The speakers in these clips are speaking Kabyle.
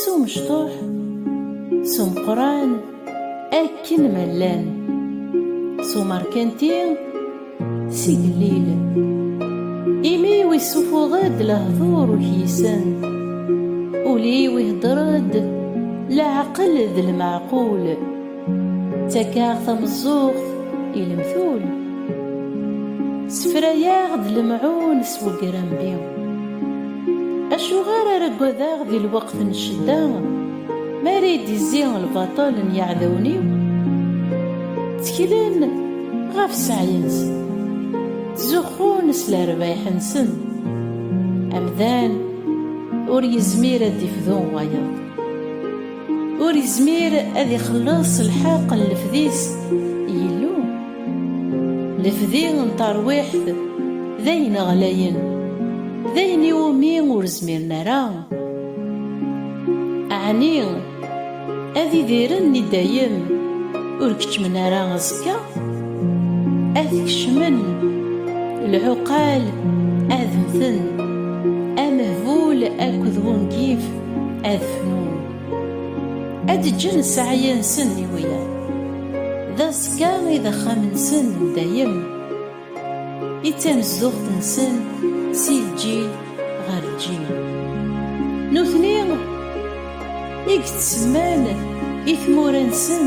S umecṭuḥ, s umeqqran, akken ma llan. S umerkanti, s igellil. Imi wi ssufuɣ-d lehdur ur k-yisen. Ul-iw ihedder-d leɛqel d lmeɛqul. Ttakeɣ tameẓẓuɣt i lemtul, ssefrayeɣ-d lemɛun s wegrambi. Acuɣer ara ggadaɣ di lweqt n ccedda, mi ara yi-d-izzi lbaṭel n yiɛdawen-iw? Tteklen ɣef sseɛy-nsen, ttzuxxun s lerbayeḥ-nsen. Amdan ur yezmir ad d-ifdu wayeḍ. Ur izmir ad ixelleṣ lḥeq n lefdis Yillu. Lefdi n tarwiḥt d ayen ɣlayen, d ayen iwumi ur zmiren ara, ɛni ad idiren i dayem ur keččmen ara aẓekka? Ad t-kecmen lɛuqal ad mmten, amehbul akked wungif. ad fnun ad ǧǧen ssaɛya-nsen i wiyaḍ d aẓekka i d axxam-nsen n dayem i d tanezduɣt-nsen si lǧil ɣer lǧil nutni i yettsemman i tmura-nsen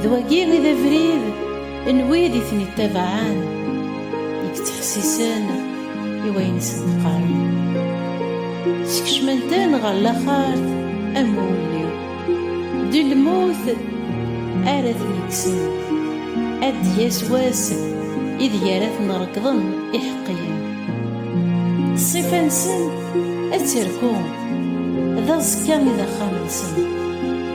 D wagi i d abrid n wid i ten-ittabaɛen, i yettḥessisen i wayen i sen-qqaren. Skecmen-ten ɣer laxert am wulli, d lmut ara ten-ikksen, ad d-yas wass ideg ara ten-reggḍen iḥeqqiyen. Ṣṣifa-nsen ad terku, d aẓekka i d axxam-nsen.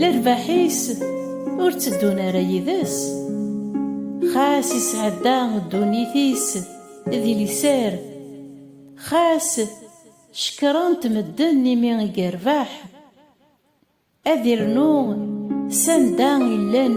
Lerbaḥ-is ur tteddun ara yid-s, xas isɛedda ddunit-is di liser, xas cekkren-t medden imi i yerbeḥ, ad irnu s anda i llan,